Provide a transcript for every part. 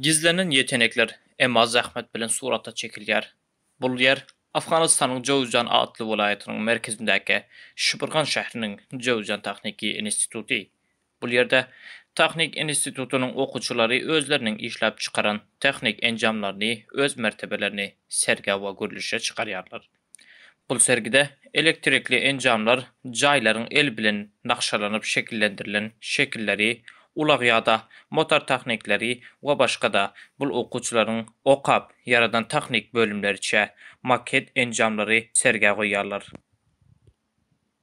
Gizlenen ýetenekler emma zähmet bilen surata çekilýär. Bul ýer Afganystanyň Jowzjan atly welaýatynyň merkezindäki Şibirgan şähriniň Jowzjan tahniki instituty. Bul ýerde tahnik institutynyň okuwçylary özleriniň işläp çykaran tahnik enjamlaryny öz mertebelerini sergä we gurluşa çykarýarlar. Bu sergide elektrikli enjamlar, jaýlaryň el bilen nagşalanyp şekillendirilen şekilleri, ulag ýa-da motor tahnikleri we başga-da bul okuwçylaryň okap ýaradan tahnik bölümleriçe maket enjamlary sergä goýýarlar.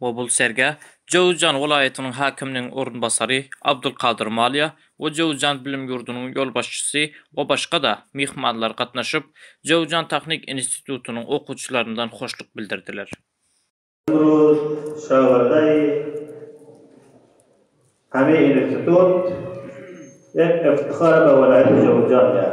Mobil sergä Jöwüzjan welaýatynyň häkiminiň orunbasary Abdulkadyr Malýa we Jöwüzjan bilim ýurdunyň ýolbaşçysy we başga-da myhmanlar gatnaşyp, Jöwüzjan tahnik institutynyň okuwçylaryndan hoşluk bildirdiler. Gurur şagyrdaý Hami Institut Ep Eftikhar Be Welaýat Jöwüzjan Ýar.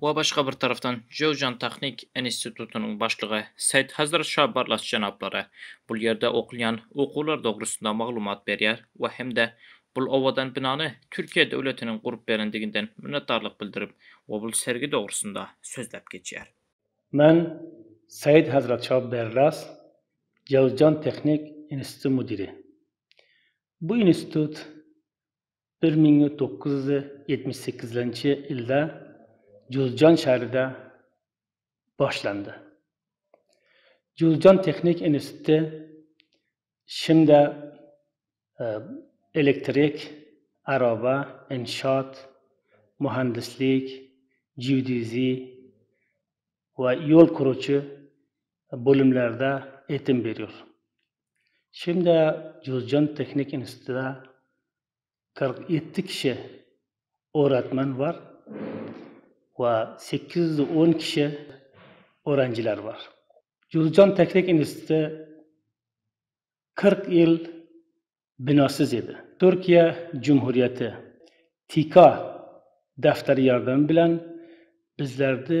we başga bir tarapdan Jöwjan tahnik institutynyň başlygy Seýt Hazrat Şah Barlas jenaplary bul ýerde okulýan okuwlar dogrusynda maglumat berýär we hem-de bul owadan binany Türkiýe döwletiniň gurup berendiginden minnetdarlyk bildirip we bul sergi dogrusynda sözläp geçýär. Men Seýt Hazrat Şah Berlas, Jöwjan tehnik instituty müdiri. Bu institut Bir müň dokuz ýüz ýetmiş sekizinji ýylda Juzjan şäherinde başlandy. Juzjan tehniki instituty şimde elektrik, araba, inşaat, muhandislik, geodeziýa we ýol gurujy bölümlerde eýitim berýär. Şeýle-de Juzjan tehniki institutynda kyrk ýedi kişi oratman bar we sekiz ýüz on kişi oranžylar bar. Juzjan tehniki instituty kyrk ýyl binasyz idi. Türkiýe Cumhuriyeti TİKA däpderi ýardamy bilen bizlerdi